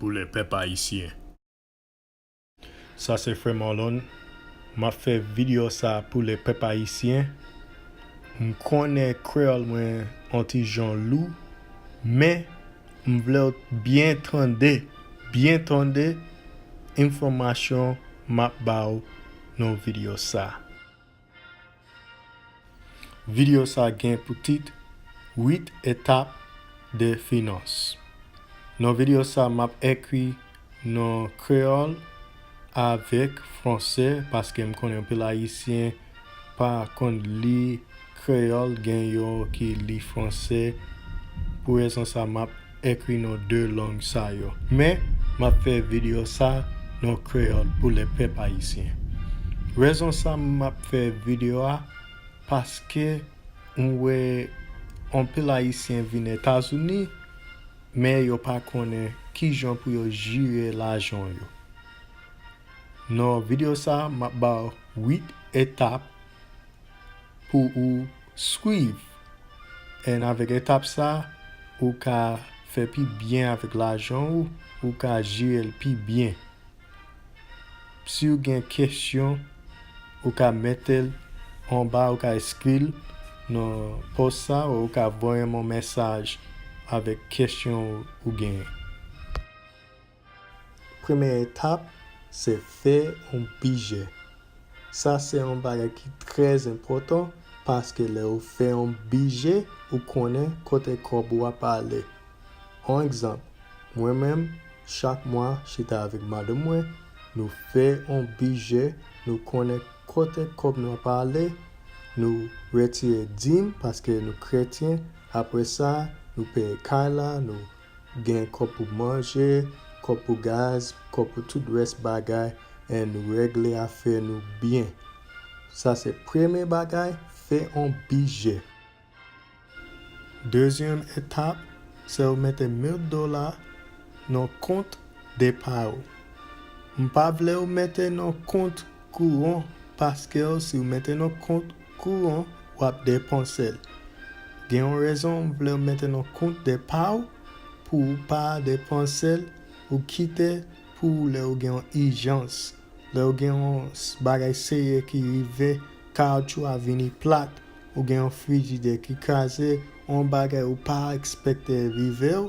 pou le pep ayisyen. Sa se fre Marlon map fe video sa pou le pep ayisyen m konnen kreyol mwen on ti jan lou men m vlew t byen tande byen tande enfomation map baw nan video sa. Videyo sa gen pou tit, 8 etap de finans. Nan videyo sa map ekri nan kreyòl avèk fransè paske m konnen anpil ayisyen pa konn li kreyòl gen yo ki li fransè pou rezon sa map ekri non 2 lang sa yo. Men, m ap fè videyo sa non kreyòl pou lè pèp ayisyen. Rezon sa m ap fè videyo a, paske m wè anpil ayisyen vin Etazini, men yo pa konnen ki jan pou yo jire lajan yo. Non videyo sa, m ap ba w 8 etap pou ou. Swiv 1 avèk etap sa ou ka fè pi byen avèk lajan ou ou ka jerel pi byen siw gen kesyon ou ka metel anba ou ka eskril nan pòs sa ou ka voyem yon mesaj avèk kesyon ou genyen. Premye etap se fè yon bije. Sa se yon bagay ki trè enpòtan paske lè ou fè yon bije ou konnen kote kòb ou ap ale. On egzanp, mwen menm chak mwa chita avèk madanm mwen nou fè yon bije nou konnen kote kòb nou ap ale, nou retire dim paske nou kretyen apre sa nou peye kay la, nou Gen kòb pou manje, kòb pou gaz, kòb pou tout rès bagay en nou regle afè nou byen. Sa se premye bagay, fè on bije. Dezyèm etap, se ou mete 1000 dola nan kont depa ou. M pa vle ou mete nan kont kouran paskew si ou mete nan kont Kouran wap depensel. Gen yon rezon ou vle mete nan kont de paw pou ou pa depensel ou kite pou lè ou gen yon ijans lè ou gen yon bagay serye ki rive kaoutchou a vini plat ou gen yon frijidè ki kraze yon bagay ou pa expecte rivew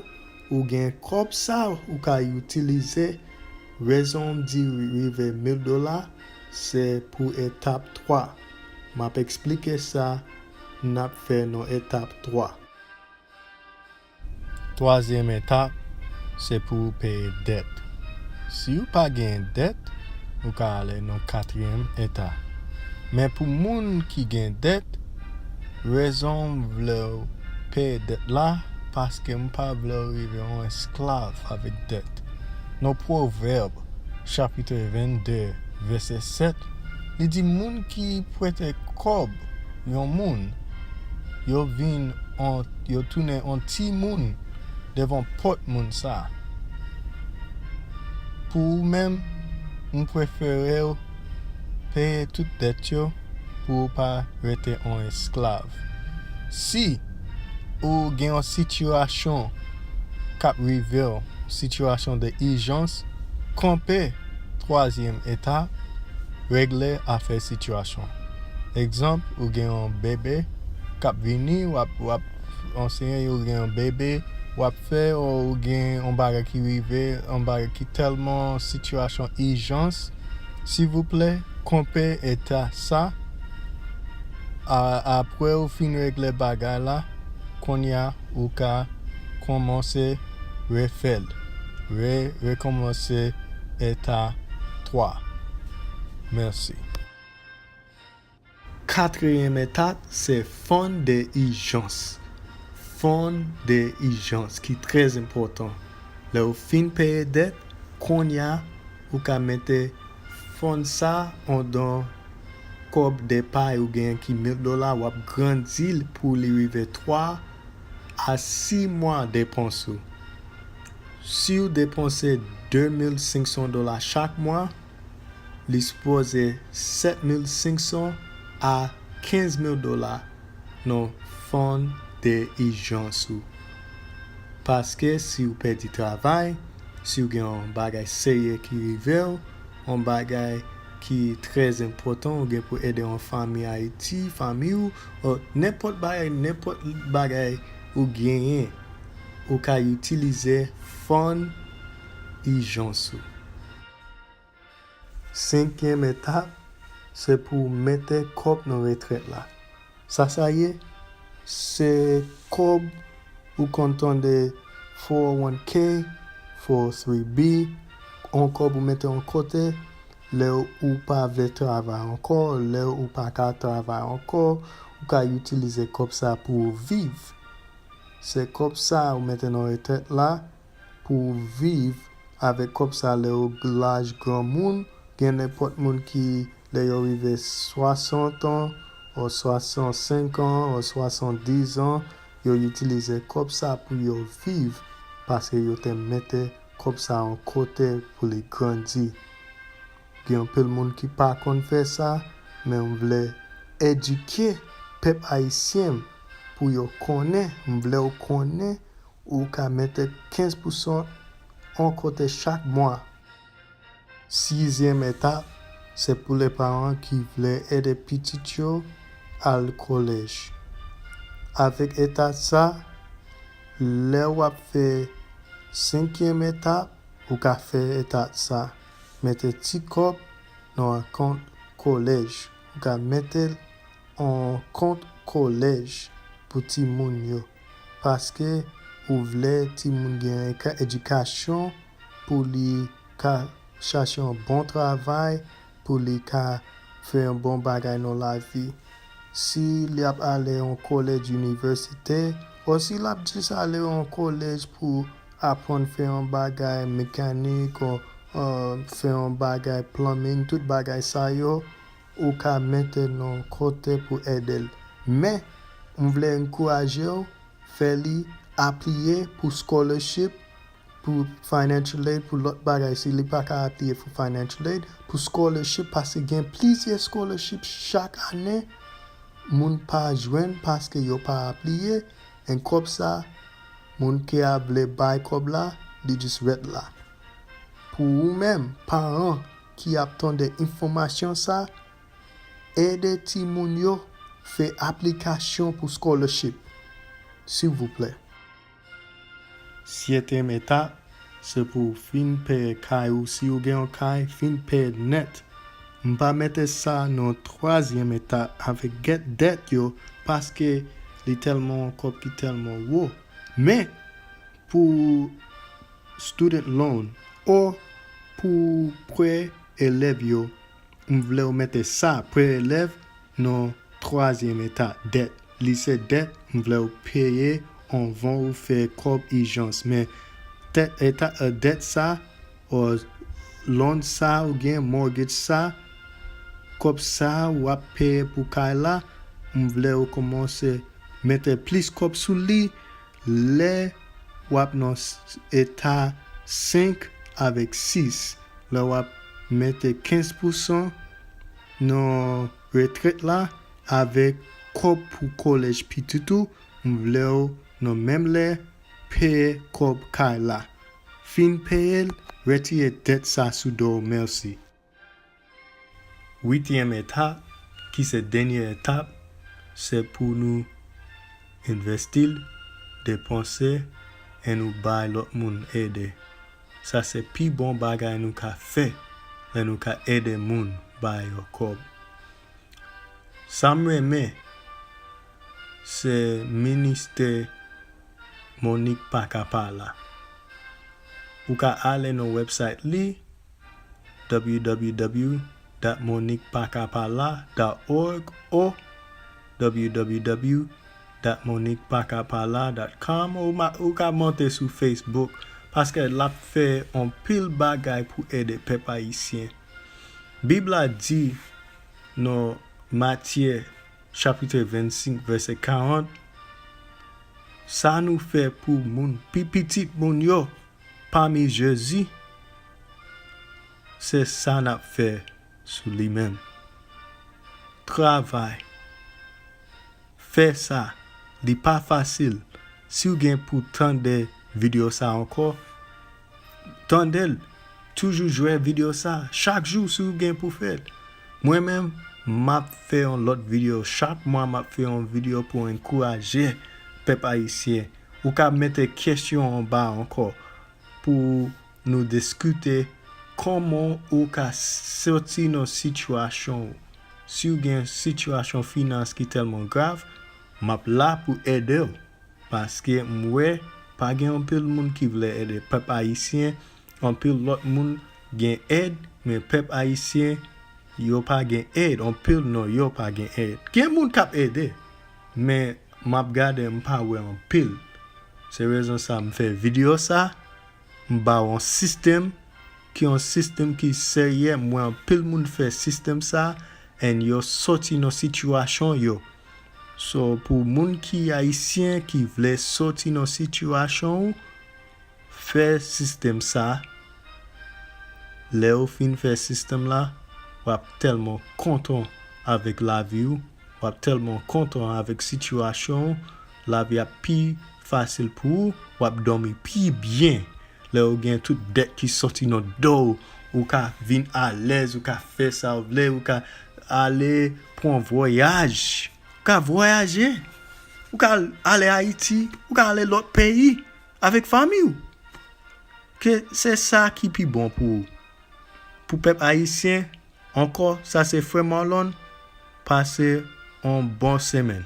ou gen kob sa ou ka utilize rezon m di rive mil dola se pou etap 3. Map esplike sa nap fè nan etap 3. Twazyèm etap se pou ou peye dèt. Si ou pa genyen dèt, ou ka ale nan katriyèm eta. Men pou moun ki gen dèt, rezon m vlew peye dèt la paske m pa vlew rive yon esklav avèk dèt. Non pwovèb chapitè 22 vèsè 7, li di moun ki prete kòb yon moun, yo vin an, yo tounen an timoun devan pòt moun sa a. Pou ou menm, m prefere w peye tout dèt yo. pou ou pa rete on esklav. Si ou gen yon sitiyasyon k ap rive w, sitiyasyon de ijans, konpe twazyèm etap, regle afè sitiyasyon an. Egzanp, ou gen yon bebe k ap vini, w ap anseye yo gen yon bebe, w ap fè o ou gen yon bagay ki rive, yon bagay ki tèlman sitiyasyon ijans, Sivouplè konpè eta sa a aprè ou fin regle bagay la konnya ou ka konmanse refèl re rekonmanse eta 3 mèsi. Katriyèm etap se fon de ijans. Fon de ijans ki trè enpòtan. Lè ou fin peye dèt, konnya ou ka mete fon sa andan kòb depay ou genyen ki 1000 dola, w ap grandi l pou li rive 3 a 6 mwa depans ou. Si ou depanse 2500 dola chak mwa, li sipoze 7500 a 15000 dola nan fon de ijans ou paske si ou pèdi travay si ou gen yon bagay serye ki rive ou yon bagay ki trè enpòtan ou gen pou ede yon fanmi ayiti fanmi ou o nenpòt bagay nenpòt bagay ou genyen ou ka itilize fon ijans ou. Senkyèm etap, se pou w mete kòb nan retrèt la. Sa sa ye? Se kòb ou konn tande 401 k, 403 b, yon kòb ou mete yon kote lè ou pa vle travay ankò, lè ou pa ka travay ankò, ou ka itilize kòb sa pou w viv. Se kòb sa ou mete nan retrèt la pou w viv avèk kòb sa lè w laj granmoun, gen nenpòt moun ki lè yo rive 60 an o 65 an o 70 an yo itilize kòb sa pou yo viv paske yo te mete kòb sa yon kote pou li grandi. Gen anpil moun ki pa konn fè sa men m vle edike pèp ayisyen m pou yo konnen m vle w konnen Ou ka mete 15 pousan on kote chak mwa. Sizyèm etap se pou lè paran ki vle ede pitit yo al kolèj. Avèk etap sa, lè w ap fè senkyèm etap, ou ka fè etap sa, mete ti kòb nan on kont kolèj. Ou ka mete l on kont kolèj pou timoun yo. paske ou vle timoun gen yon edikasyon pou li ka chache yon bon travay pou li ka fè yon bon bagay nan lavi si li ap ale yon kolèj inivèsite o si l ap jis ale yon kolèj pou aprann fè yon bagay mekanik o fè yon bagay plumbing tout bagay sa yo. Ou ka mete non kote pou edel. Men, m vle ankouraje w fè li apliye pou scholarship, pou financial aid, pou lòt bagay si li pa ka apliye pou financial aid, pou scholarship paske gen plizyè scholarship chak ane moun pa jwenn paske yo pa apliye and kòb sa moun ki ap vle bay kòb la li just ret la. Pou ou menm paran. ki ap tande enfòmasyon sa, ede timoun yo fè aplikasyon pou scholarship silvouplè. Syetyèm etap, se pou ou fin pè kay ou si ou gen yon kay, fin pè nèt. M pa mete sa nan twazyèm etap avèk gèt dèt yo paske li tèlman yon kòb ki tèlman wo. Men, pou student loan or pou prè elèv yo m vlew mete sa prè elèv nan twazyèm eta dèt li se dèt m vlew peye anvan ou fè kòb ijans men tèt eta dèt sa or loan sa ou gen mortgage sa kòb sa wap peye pou kay la m vlew komanse mete plis kòb sou li. Lè w ap nan eta 5 avèk 6, lè w ap mete 15 pousan nan retrèt la avèk kòb pou kolèj pitit ou, m vle w nan menm lè peye kòb kay la. Fin peye l, retire dèt sa sou do w. Mèsi. Uityèm etap, ki se dènyè etap, se pou nou envesti l, depanse, e nou bay lòt moun ede. Sa se pi bon bagay nou ka fè lè nou ka ede moun ba yo kòb. Sa m renmen se ministè Monique pa ka pa la. Ou ka ale nan website li www.moniquepakapala.org oh www.moniquepakapala.com ou ka monte sou Facebook paske lap fè anpil bagay pou ede pèp ayisyen bib la di nan Matyè chapitre 25 vèsè 40 sa nou fè pou moun pi pitit moun yo pami jezi se sa nap fè sou li menm travay fè sa li pa fasil siw gen pou tande video sa ankò tandel toujou jwe video sa chak jou siw gen pou fèl mwen menm map fè yon lòt video chak mwa map fè yon video pou ankouraje pèp ayisyen Ou ka mete kesyon anba anko pou nou diskite koman ou ka soti nan sitiyasyon ou. Siw gen yon sitiyasyon finans ki telman grav, map la pou edew. Paske m we pa gen anpil moun ki vle ede pep ayisyen, anpil lot moun gen ed men pep ayisyen yo pa gen ed, anpil nan yo pa gen ed. Gen moun kap ede, Men map gade m pa wè anpil. Se rezon sa m fè video sa, m ba w yon system ki yon system ki serye m wè anpil moun fè system sa and yo soti nan situation yo. So pou moun ki ayisyen ki vle soti nan situation w. Fè system sa Lèw fin fè system la wap tèlman kontan avèk laviw wap tèlman kontan avèk sitiyasyon ou lavi ap pi fasil pou ou wap dòmi pi byen lèw gen tout dèt ki sòti nan dow ou ka vin alèz ou ka fè sa ou vle ou ka ale pran vwayaj ou ka vwayaje ou ka ale ayiti ou ka ale lòt peyi. Avèk fanmi ou. Ke se sa ki pi bon pou ou. Pou pèp ayisyen ankò sa se frè Marlon pase on bon semenn.